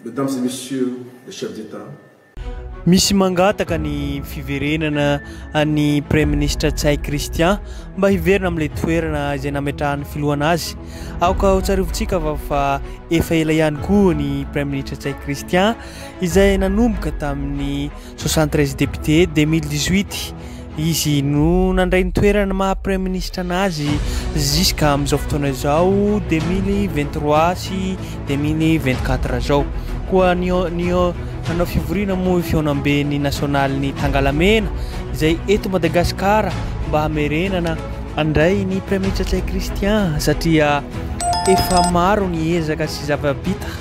Mesdames et Messieurs les Chefs d'Etat, Misy mangataka ny fiverenana an'ny Praiminisitra Ntsay Christian mba hiverina amin'ilay toerana izay nametrahan'ny filohana azy. Aoka hotsarovintsika fa fa efa ela ihany koa ny Praiminisitra Ntsay Christian izay nanomboka tamin'ny 73 députés 2018 izy no nandray ny toeran'ny maha praiministra anazy jusqu'à amin'izao fotoana izao 2023 sy 2024 izao koa ny ny nanao fivoriana moa fihaonamben'ny nasionalin'ny tangalamena izay eto madagasikara mba hamerenana andray ny praiministra tsay christian satria efa maro ny ezaka sy zava-bita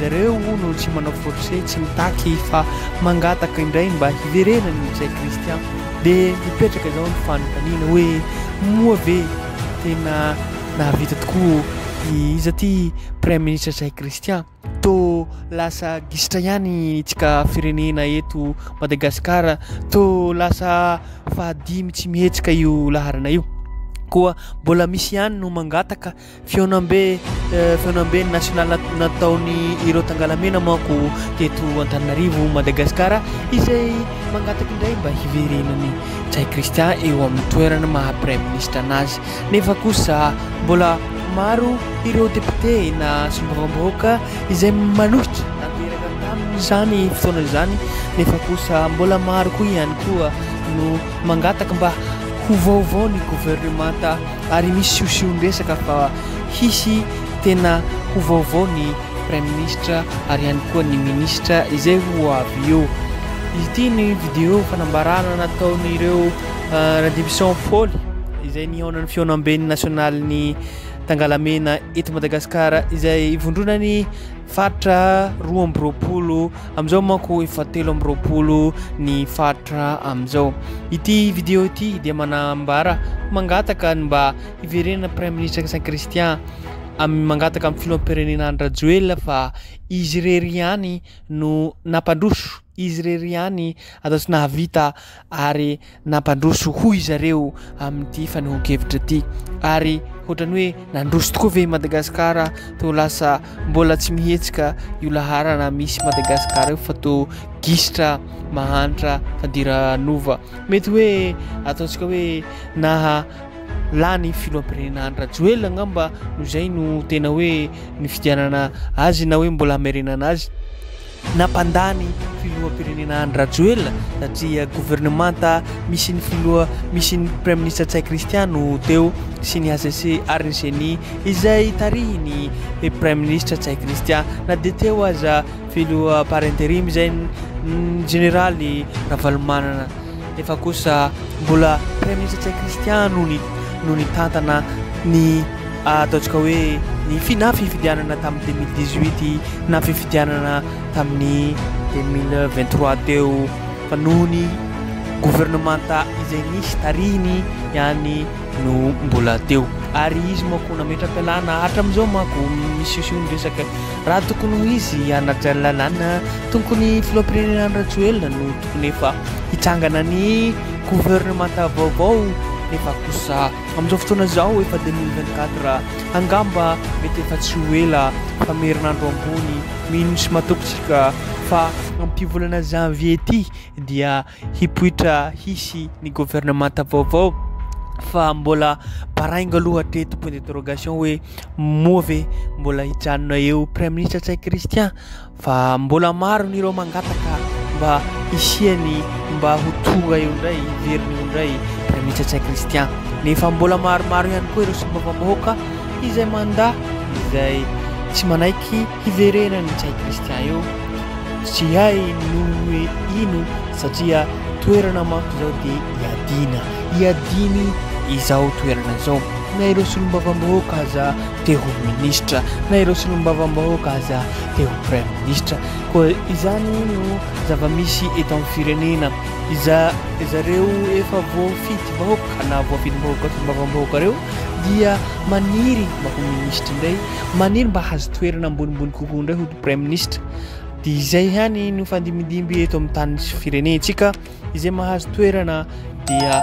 Zareo hono tsy manao force tsy mitaky fa mangataka indray mba hiverenany izay Christian de mipetraka izao ny fanontaniana hoe moa ve tena nahavita tokoa i iza ty praiministra izay Christian to lasa gisitra ihany tsika firenena eto Madagascar to lasa fahadimy tsy mihetsika io laharana io koa mbola misy ihany no mangataka Fihaonambe fihaonamben'ny nasionaly nataony ireo tangalamena manko teto Antananarivo Madagasikara izay mangataka indray mba hiverenany Ntsay Christian eo amin'ny toerana maha praiminisitra anazy nefa kosa mbola maro ireo depiote na solombavambahoaka izay manohitra nateraka tamin'izany fotoana izany nefa kosa mbola maro koa ihany koa no mangataka mba ho vaovao ny governemanta Ary misy siosion-dresaka fa hisy tena ho vaovao ny Praiminisitra ary ihany koa ny Minisitra izay ho avy eo. Izy ity ny vidéo fanambarana nataon'ireo Radivison Poly izay nihaona ny fihaonamben'ny Nasionalin'ny Tangalamena eto Madagasikara izay ivondronan'ny Faritra roa amby roapolo amin'izao manko efa telo amby roapolo ny faritra amin'izao. Ity video ity dia manambara mangataka ny mba hiverenan'ny Praiminisitra Christian Christian amin'ny mangataka amin'ny filoham-pirenena Andry Rajoelina fa izy irery ihany no nampandroso, izy irery ihany atao tsy nahavita ary nampandroso hoy zareo amin'ity fanehoan-kevitra ity ary hotrany hoe nandroso tokoa ve Madagasikara to lasa mbola tsy mihetsika io laharana misy Madagasikara io fa to gisitra mahantra fandiranova mety hoe ataontsika hoe naha lany filohampirenena Andry Rajoelina angamba no izay no tena hoe ny fidianana azy na hoe mbola hamerenana azy Nampandà ny filoham-pirenena Andry Rajoelina satria governemanta misy ny filoha misy ny praiminisitra Ntsay Christian no teo sy ny HCC ary ny Ceni izay tarihin'ny praiminisitra Ntsay Christian na dia teo aza filoha par interim izay ny jeneraly Ravalomanana nefa kosa mbola Praiminisitra Tsay Christian no ni no nitantana ny ataontsika hoe ny fi na fifidianana tamin'ny deux mille dix huit na fifidianana tamin'ny deux mille vingt trois teo fa noho ny governemanta izay nisy tarihiny ihany no mbola teo ary izy manko nametra-pialana hatramin'izao manko misiosio ny resaka raha tokony ho izy Anna Jallalana tokony filoham-pirenena Andry Rajoelina no fony efa hitsangana ny governemanta vaovao nefa kosa amin'izao fotoana izao efa deux mille vingt quatre angamba mety efa tsy ho ela fa merinandro ambony mino sy matoky tsika fa amin'ity volana janvier ity dia hipoitra hisy ny governemanta vaovao fa mbola baraingo aloha hatreto point d'interrogation hoe moa ve mbola hijanona eo praiministra Ntsay Christian Fa mbola maro ny ireo mangataka mba hisiany mba ho tonga eo indray, hiverina eo indray Praiminisitra Ntsay Christian. Nefa mbola maromaro ihany koa ireo solombavambahoaka izay mandà, izay tsy manaiky hiverenan'i Ntsay Christian eo. Tsy hay noho hoe ino satria toerana manko izao dia iadiana, iadiany izao toerana izao. Na ireo solombavambahoaka aza te ho minisitra na ireo solombavambahoaka aza te ho praiminisitra koa izany no zava-misy eto amin'ny firenena iza zareo efa voafidy vahoaka na voafidy vahoaka solombavambahoaka reo dia maniry mba ho minisitra indray maniry mba hazo toerana ambonimbony kokoa indray ho praiminisitra dia izay ihany no fandimidimby eto amin'ny tany sy firenentsika izay mahazo toerana dia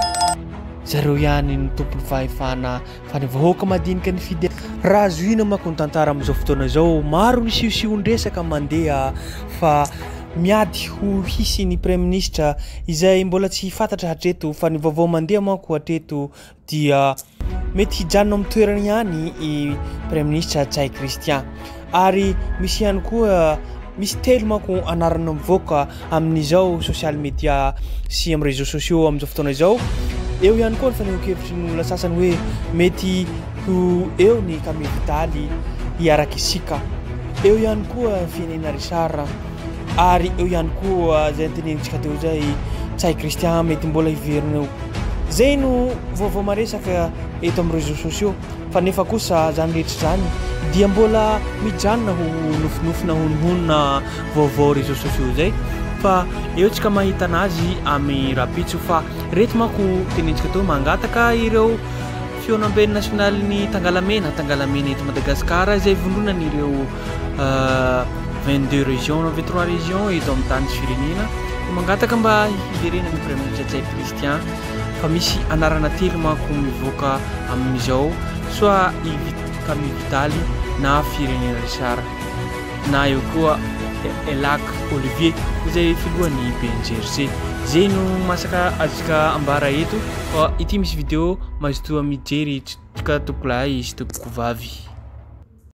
zareo ihany ny tompon'ny fahefana Fa ny vahoaka madinika nifidy azy. Raha zohiana manko ny tantara amin'izao fotoana izao, maro ny siosiondresaka mandeha fa miady ho hisy ny praiminisitra izay mbola tsy fantatra hatreto fa ny vaovao mandeha manko hatreto dia mety hijanona amin'ny toerany ihany i praiminisitra Ntsay Christian. Ary misy ihany koa, misy telo manko anarana mivoaka amin'izao social media sy amin'ny réseaux sociaux amin'izao fotoana izao. Eo ihany koa ny fanehoan-kevitry ny olona sasany hoe mety ho eo ny kamely daly hiaraka isika. Eo ihany koa Fienena Richard ary eo ihany koa izay antenenintsika teo izay Tsay Christian mety mbola hiverina eo. Zay no vaovao maresaka eto amin'ny réseaux sociaux Fa nefa kosa izany rehetra izany dia mbola mijanona ho nofinofina hononhonona vaovao réseaux sociaux izay fa eo tsika mahitana azy amy rapitso fa reto manko tenentsika teo mangataka ireo fionambe ny national ny tangalamena tangalamena eto Madagascar izay vondronan ireo 22 région na 23 région eto amy tany sy firenena mangataka mba hiderena ny praiminitra Jaipy Christian fa misy anarana telo manko mivoaka amin'izao soit i Vit Camille Vitaly na Firenena Richard na eo koa Elac Olivier izay filohan'ny BNGRC. Zay no masaka azontsika ambara eto fa ity misy vidéo mazotoa mijery toka tompokolahy sy tompokovavy.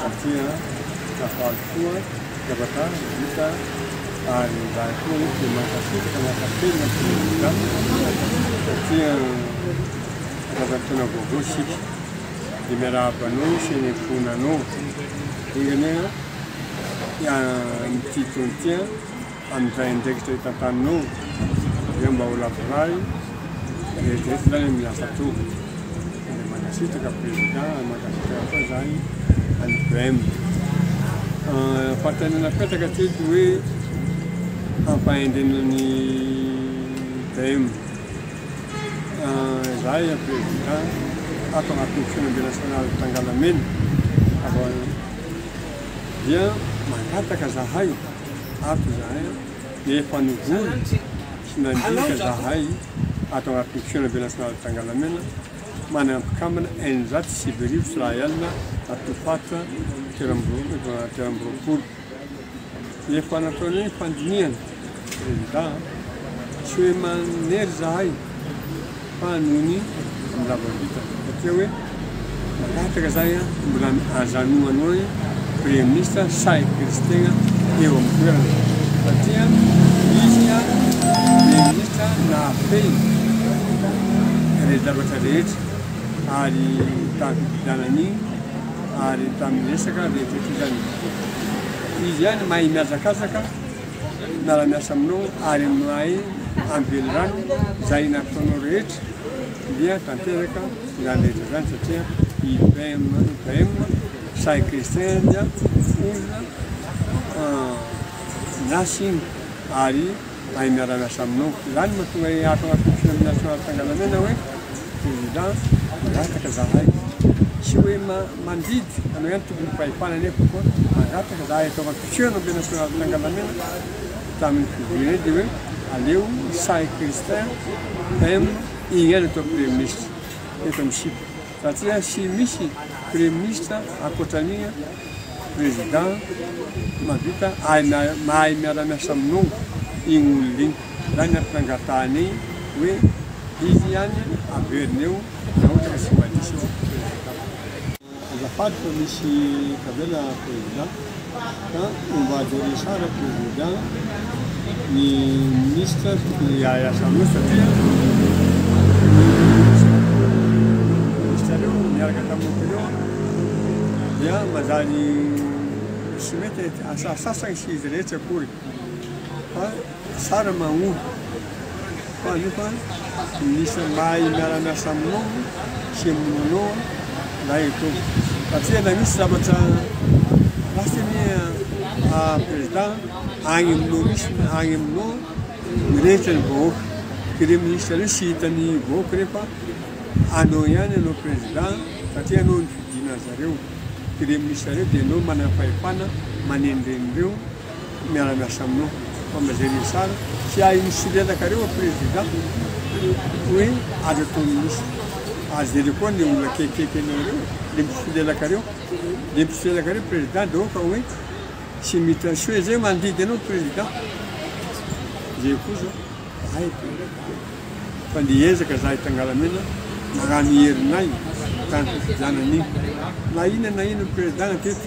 satria nahafaly koa zavatra vita ary raha koa eto dia mankasitraka miaka-penina sy migadra satria zavatra tena vaovao isika dia miarahaba anao sy ny ankohonanao dingana ny titony tia mpandray andraikitra eto Antanimora dia mba ho lavorary dia izay tsy lany amin'ny hafa toa dia mankasitraka président mankasitraka koa izany any BM fatanana petaka tsy ety hoe hampahendrena ny BM izay président ato agnatin'ny fiainambe nasionaly tangalamena dia mangataka zahay Hafa izany, efa nivory sy nandika izahay ato anatin'ny Fihaonambe Nasionaly Tangalamena manana mpikambana eninjato sy sivy arivo sy iray alina ato Faritra telo amby roapolo. Efa nataonay ny fandinihana, Prezidà, tsy hoe manery izahay. Fa noho ny fandavan-bita bakeo hoe mangataka zay an, mbola ajanoanao ny premier ministre sa ekerizy tegna eo am toerana satria izy ka premier ministre nahafehy re zavatra rehetra ary tam fifidianana igny ary tam resaka rehetra rehetra zany izy ihany mahay miazakazaka miara miasa aminao ary aminay any Velirano izay nataonao rehetra dia tanteraka izany rehetra izany satria i PM PM Sahy Christian dia olona miasa iny ary mahay miara miasa aminao izany mahatonga ahy ato anatin'ny firenena nasionaly Tsangalamena hoe Prezida mangataka izahay tsy hoe mandidy anao ihany tompon'ny fahefana nefa koa mangataka izahay ataovy Tsy hoe nomena ny Soraty Tangalamena tamin'ny fidiana dia hoe aleo Isahy Christin PM hihaino atao Praiminisitra eto amin'ny sipa satria tsy misy Praiminisitra ankoatran'igny Président mahavita mahay miara-miasa aminao igny olona igny. Zany ny ampitangatahana igny hoe izy ihany averina eo raha ohatra ka tsy mandiso Président. Azafady fa misy tavela président ka on va gerer ça avec le président, ny ministre tokony hiahy asaloha satria ny ministre reo niaraka tamiko ireo dia manjary tsy mety asasasany sy izy rehetra akory fa Tsara mahory fa io fa minisitra mahay miara miasa aminao sy aminao lay e Tompo fa tsy na misy zavatra lasa anie a président agny aminao misy agny aminao mirehitra ny vahoaka ke le minisitra reo sy hitan'ny vahoaka reo fa anao ihany anao président satria anao no fidiana zareo ke le minisitra reo de anao manam-pahefana manenreny reo Miara miasa aminao fa mazay le sara tsy ahy misilelaka reo a prezida hoe azo atao minisitra ary zay le koa le olona akekikeky anao reo le misilelaka reo le misilelaka reo prezida de oka hoe tsy mita soe zay mandidy anao prezida zay koa zao ay fa le ezaka zahay tangalamena magnano herinay tany fifidianana iny na inona na inona prezida na teto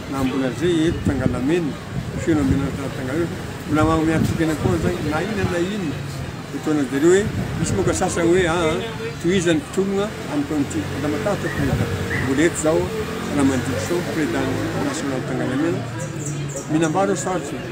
Na mbola zay eto tangalamena feno amena tena tangala mbola magnome hatokana koa zany na inona na inona etoana de hoe misy moka sasany hoe aa tohizany mpitologna amiko an'ity mbola matahotra président mbola eto zao raha mandiso président national tangalamena minambaro sarotra